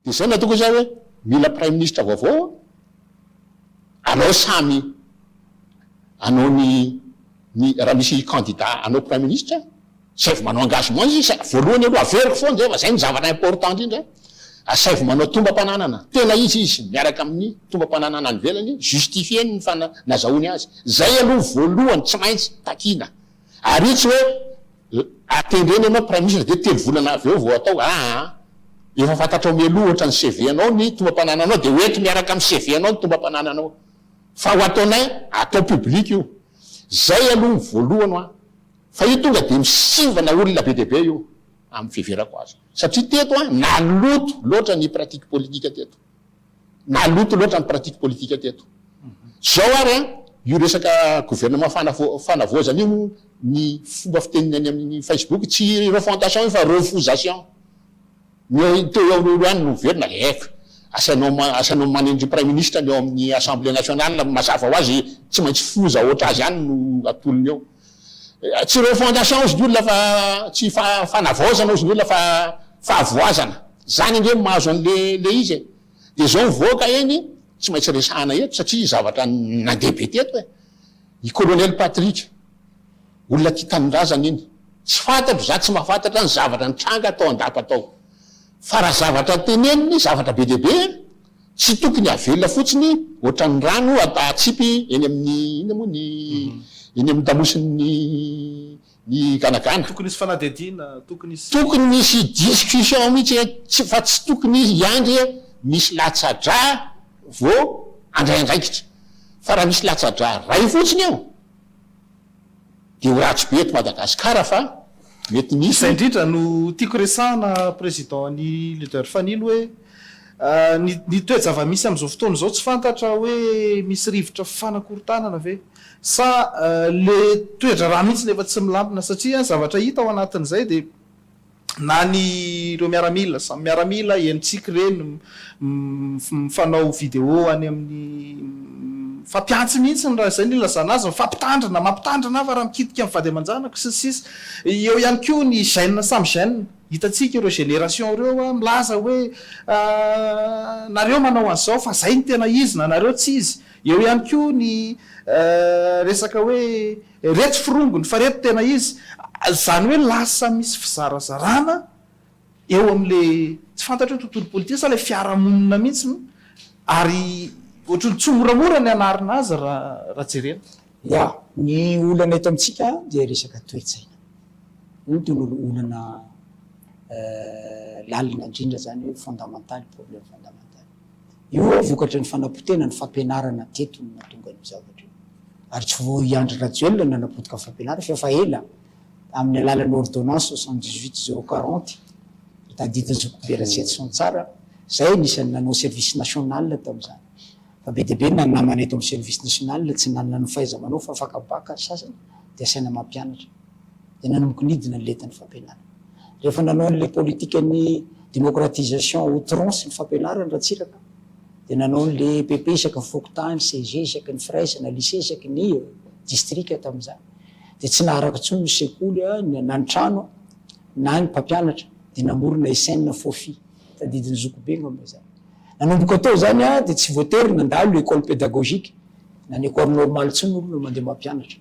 Dia izay no ataoko izay hoe mila praiminisitra vaovao aho, anao samy anao ny ny raha misy kandida hanao praiminisitra, asaivo manao engagement izy sa voalohany aloha averiko foana izay fa izay no zavatra important indrindra, asaivo manao tombam-pananana tena izy izy miaraka amin'ny tombam-pananana any ivelany, justifier ny fana nazahoany azy, izay aloha voalohany tsy maintsy takiana. Ary io tsy hoe atendreny ianao praiminisitra dia telo volana avy eo vao atao aa! Efa fantatrao mialoha ohatra ny CV anao ny tombam-panananao dia hoento miaraka amin'ny CV anao ny tombam-panananao fa ho ataonay atao public io! Zay aloha ny voalohany hoa! Fa io tonga dia misivana olona be dia be io amin'ny fiheverako azy satria teto an naloto loatra ny pratique politique teto. Maloto loatra ny pratique politique teto. Zao ary an, io resaka gouvernement fanavo, fanavaozana io, ny fomba fiteniny any amin'ny Facebook, tsy refantation io fa refusation. Ny eo, teo eo eo ihany no miverina, eeh, asainao, asainao manendry Praiminisitra ny ao amin'ny Assemblée Nationale, mazava ho azy tsy maintsy foza ohatr'azy ihany no atolony eo. Tsy refondation ozy ny olona fa tsy fanavaozana ozy ny olona fa fahavoazana. Zany ange no mahazo anle le izy e. De zao mivoaka eny tsy maintsy resahana eto satria zavatra nandeha be teto e. I colonel Patrick olona tia tanindrazana iny. Tsy fantatro za tsy mahafantatra ny zavatra nitranga tao an-dapa tao. Fa raha zavatra teneniny zavatra be dia be e. Tsy tokony havelona fotsiny ohatran'ny rano hatsipy eny amin'ny inona moa ny eny amin'ny tamosin'ny ny ganagana. Tokony hisy fanadihadiana, tokony hisy. Tokony misy discussion mihitsy hoe tsy fa tsy tokony hiandry misy latsa-drà vao handray andraikitra. Fa raha misy latsa-drà iray fotsiny eo Dia ho ratsy be eto Madagascar fa mety misy. Izay indrindra no tiako resahana Président an'i Leader Fanilo hoe ny ny toe-javamisy amin'izao fotoana izao tsy fantatra hoe misy rivotra fanakorontanana ve sa le toedraharaha mihitsy no efa tsy milamina satria zavatra hita ao anatin'izay dia na ny ireo miaramila, samy miaramila, eny tsiky ireny mifanao video any amin'ny mifampihantsy mihitsy raha izay no ilazana azy, mifampitandrina, mampitandrina aho fa raha mikitika ny vady aman-janako sy ny sisa Eo ihany koa ny gènes samy gènes, hitantsika ireo génération ireo milaza hoe nareo manao an'izao fa izay no tena izy na nareo tsy izy Eo ihany koa ny resaka hoe Reto forongony fa reto tena izy, izany hoe lasa misy fizarazarana eo amin'ilay tsy fantatro hoe tontolo politika sa ilay fiarahamonina mihitsy no ary ohatran'ny tsy ho moramora ny hanarina azy raha jerena. Ya, ny olana eto amintsika dia resaka toe-tsaina. Io tena olana lalina indrindra izany hoe fondamental, problème fondamental. Io no vokatry ny fanapotehana ny fampianarana hatreto no nahatonga an'io zavatra io. Ary tsy vao i Andry Rajoelina no nanapotika ny fampianarana fa efa ela amin'ny alalan'ny ordonnance soixante dix huit zéro quarante tadidin'i Zokibe Ratsietison tsara, izahay anisan'ny nanao service national tamin'izany fa be dia be na ny namana eto amin'ny service national tsy nanana ny fahaiza-manao fa afaka bacc ny sasany dia asaina mampianatra. dia nanonkonidina ny lentan'ny fampianarana. Rehefa nanao an'ilay politikan'ny démocratisation outrance ny fampianarana Ratsiraka dia nanao an'ilay EPP isaky ny fokontany, CEG isaky ny firaisana, lycée isaky ny distrika tamin'izany. Dia tsy naharaka intsony ny sekoly na ny trano na ny mpampianatra dia namorona SN Fofi, tadidin'ny zokibe angamba izany. Nanomboka tao izany dia tsy voatery nandalo école pédagogique na ny école normale intsony ny olona mandeha mampianatra.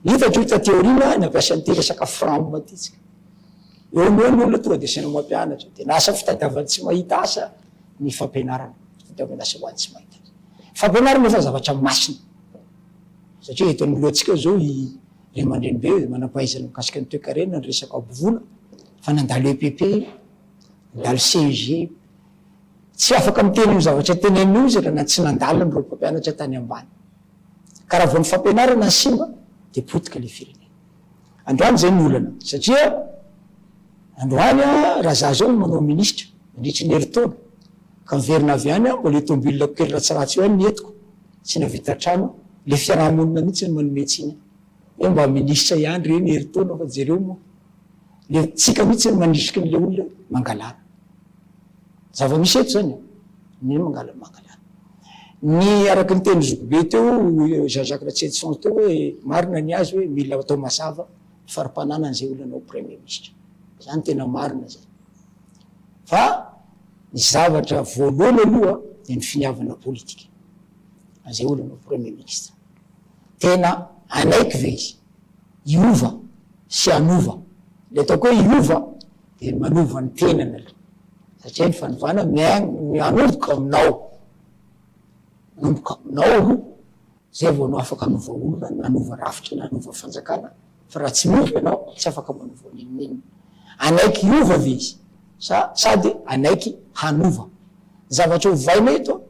Hitako io taty aoriana nampiasa an'ity resaka fram ity tsika. Eo no eo ny olona tonga dia asaina mampianatra. Dia lasa fitadiavan'ny tsy mahita asa ny fampianarana. Fitadiavan'asa ho an'ny tsy mahita asa. Fampianarana izany zavatra masina. Satria eto anoloantsika izao i ray aman-dreny be manam-pahaizana mikasika ny toekarena, ny resaka hambovoana, fa nandalo EPP, nandalo CEG. Tsy afaka miteny io zavatra tenenin'io izy raha tsy nandaliny ireo mpampianatra tany ambany. Ka raha vao ny fampianarana simba dia potika ilay firenena. Androany izay no olana satria androany raha za zao no manao ministra mandritry ny herintaona ka miverina avy any mbola io tomobilako kely ratsiratsy io ihany ny entiko tsy nahavita trano, ilay fiaraha-monina mihitsy no manome tsiny ahy. Eo mba minisitra ihany ireny herintaona fa jereo moa le tsika mihitsy manisiky ny le olona mangalana zava misy eto zany ny mangalana mangalana ny araky ny teny zokibe teo Jean Jacques Ratsietison teo hoe marina ny azy hoe mila atao mazava ny farimpananany zay olona anao premier ministra zany tena marina zay fa ny zavatra voalohany aloha de ny finiavana politika an'izay olona anao premier ministra Tena hanaiky ve izy hiova sy hanova? Ilay ataoko hoe hiova dia ny manova ny tenany aloha, satria ny fanovana mianomboka aminao, manomboka aminao aloha, izay vao anao afaka hanova olona na hanova rafitra na hanova fanjakana. Fa raha tsy mino ianao, tsy afaka manao voaninonino. Hanaiky hiova ve izy? Sa sady hanaiky hanova? Ny zavatra ovaina eto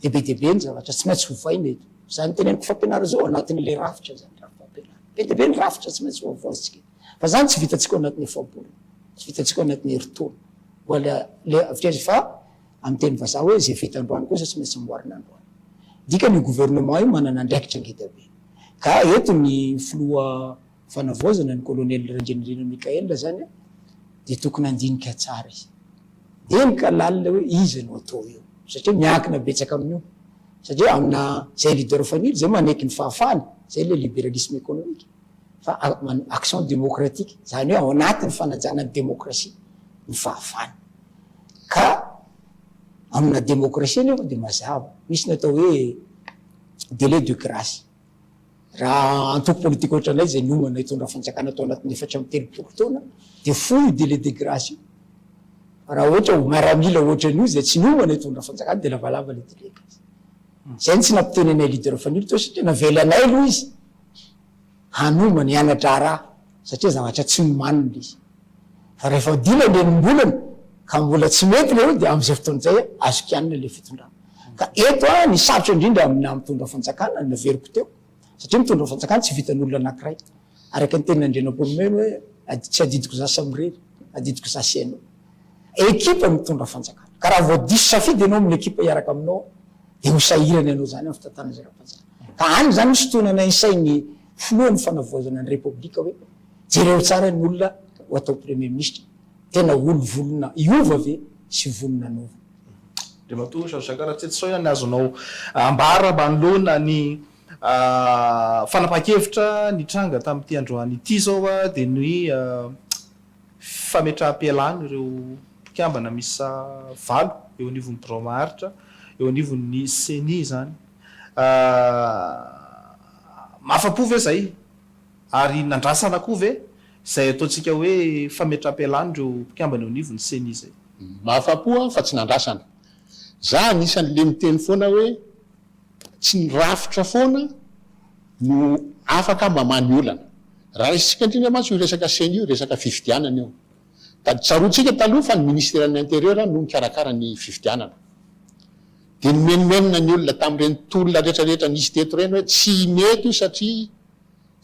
dia be dia be ny zavatra tsy maintsy ovaina eto. Izany teneniko fampianarana izao anatin'ilay rafitra izany rafi-pampianarana. Be dia be ny rafitra tsy maintsy ovaovaintsika eto. Fa izany tsy vitantsika ao anatin'ny efa-bolana. Tsy vitantsika ao anatin'ny herintaona. Mbola le, avitreza fa Amin'ny teny vazaha hoe izay vita androany kosa tsy maintsy amboarina androany. Dikany io gouvernement io manana andraikitra ngeda be. Ka eto ny filoha fanavaozana ny colonel Randrianirina Michael zany dia tokony handinika tsara izy. Eny ka lalina hoe iza no atao eo. Satria miankina betsaka amin'io. Satria amina izay leader fanilo izay manaiky ny fahafahany. Izay ilay liberalisme économique. fa manao action démocratique, izany hoe ao anatin'ny fanajana ny démocratie ny fahavalo. Ka amina démocratie anefa dia mazava, misy ny atao hoe délai de grace. Raha antoko politique ohatranay izay niomana hitondra fanjakana tao anatin'ny efatra amby telopolo taona dia fohy io délai de grace io. Fa raha ohatra ho miaramila ohatran'io izay tsy niomana hitondra fanjakana dia lavalava ilay délai de grace. Izay no tsy nampiteny anay leader Fanilo teo satria navela anay aloha izy hanomba ny hana-draharaha satria zavatra tsy nomanina ilay izy. Fa rehefa ho dimy andinimbolana ka mbola tsy mety ilay hoe dia amin'izay fotoana izay azo kianina ilay fitondrana. Ka eto ny sarotra indrindra aminà mitondra fanjakana no naveriko teo satria mitondra fanjakana tsy vitan'olona anankiray. Araka ny tenin'Andrianampoinimerina hoe ad, tsy adidiko izaho samy irery, adidiko izaho sy ianao. Ekipa no mitondra fanjakana. Ka raha vao diso safidy ianao amin'ny ekipa hiaraka aminao dia ho sahirana ianao izany amin'ny fitantanana izay ara-panajakana. Ka any izany no sintonina ny sain'ny filohan'ny fanavaozana ny repoblika hoe, jereo tsara ny olona ho atao premier ministra, tena olo volona hiova ve sy vonona hanova? Andriamatoa Georges Jacques Ratsetsy sao ny azonao ambara mba anoloana ny fanapahan-kevitra nitranga tamin'ity androany ity zao dia ny fametraham-pialana ireo mpikambana miisa valo eo anivon'ny birao maharitra eo anivon'ny ceni izany. Ahh. Afa-po ve zay? Ary nandrasana koa ve zay ataontsika hoe fametram-pialana ireo mpikambana eo anivon'ny ceni zay? Afa-po aho fa tsy nandrasana. Za anisan'le miteny foana hoe tsy ny rafitra foana no afaka mamaha ny olana. Raisintsika indrindra mantsy io resaka ceni io, resaka fifidianana io. Taditsaroantsika taloha fa ny ministeran'ny interieur no nikarakara ny fifidianana. Dia nimenomenona ny olona tamin'ireny tolona rehetrarehetra nisy teto ireny hoe tsy mety io satria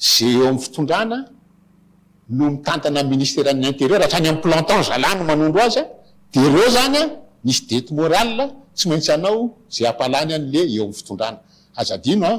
izay eo amin'ny fitondrana no mitantana ny ministeran'ny interieur hatrany amin'ny planton zalahy no manondro azy dia ireo izany an misy dette morale tsy maintsy hanao izay hampalany an'le eo amin'ny fitondrana aza adino an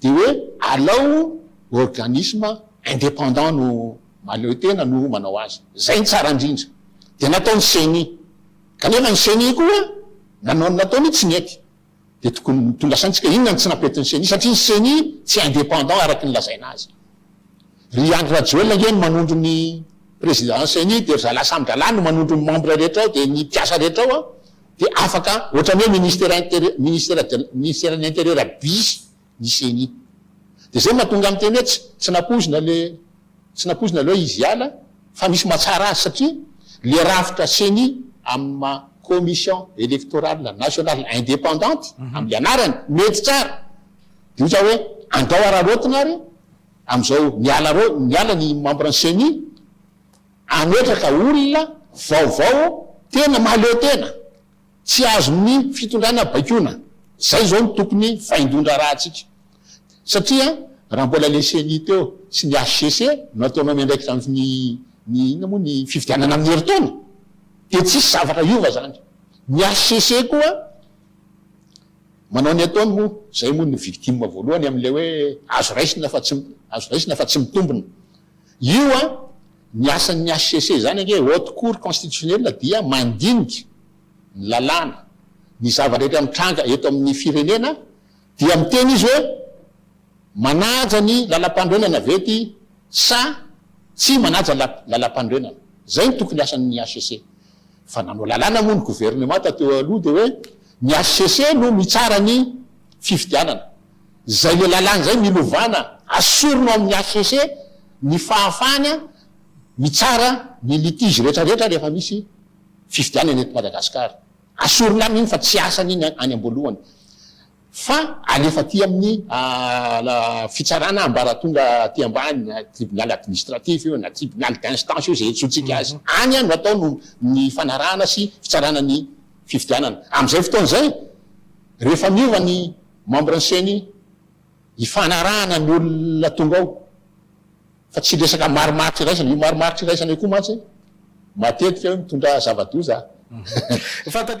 dia hoe alao organisme indépendant no mahaleo tena no manao azy. Izay no tsara indrindra. Dia natao ny ceni. Kanefa ny ceni koa nanao ny nataony io tsy nety. Dia tokony notondrasaintsika inona no tsy nampetin'ny ceni satria ny ceni tsy indépendant araka ny lazaina azy. Ry Andry Rajoelina ange no manondro ny président ceni dia ry zalahy samy dralahy no manondro ny membre rehetra ao dia ny mpiasa rehetra ao an. Dia afaka ohatran'ny hoe ministera interieur ministera de ministeran'ny interieur bisy ny ceni. Dia zay mahatonga miteny hoe tsy tsy nampoizina le tsy nampoizina le hoe izy hiala fa misy mahatsara azy satria le rafitra ceni amin'ny maha commission electorale nationale independante amin'ny anarany mety tsara dia ohatran'ny hoe andao araraotina ary amin'izao miala arao miala ny membre ny ceni Hametraka olona vaovao tena mahaleo tena, tsy azon'ny fitondrana baikoina. Izay izao no tokony vaindohan-draharahantsika. Satria raha mbola ilay ceni teo sy ny HCC no ataonao miandraikitra amin'ny ny inona moa ny fifidianana amin'ny herintaona dia tsisy zavatra hiova izany. Ny HCC koa manao ny ataony moa izay moa no victime voalohany amin'ilay hoe azo raisina fa tsy azo raisina fa tsy mitombina. Io an, ny asan'ny hcc izany ange, Haute Cour Constitutionnelle, dia mandinika ny lalàna, ny zava-drehetra mitranga eto amin'ny firenena, dia miteny izy hoe manaja ny lalampanorenana ve ity sa tsy manaja lalampanorenana. Izay no tokony asan'ny hcc. Fa nanao lalàna moa ny governemanta teo aloha dia hoe ny hcc no mitsara ny fifidianana. Izay le lalàna izay milovàna asorina ao amin'ny HCC ny fahafahana mitsara ny litige retraretra rehefa misy fifidianana eto Madagasikara. Asorina aminy iny fa tsy asany iny any amboalohany fa alefa aty amin'ny fitsarana ambaratonga aty ambany na tribunal administratif io na tribunal d'instance io izay iantsoantsika azy. Any no atao no ny fanarahana sy fitsarana ny fifidianana. Amin'izay fotoana izay rehefa miova ny Membres ny ceni ifanarahana ny olona tonga ao fa tsy resaka marimaritra iraisana, io marimaritra iraisana io koa mantsy matetika io mitondra zava-doza a.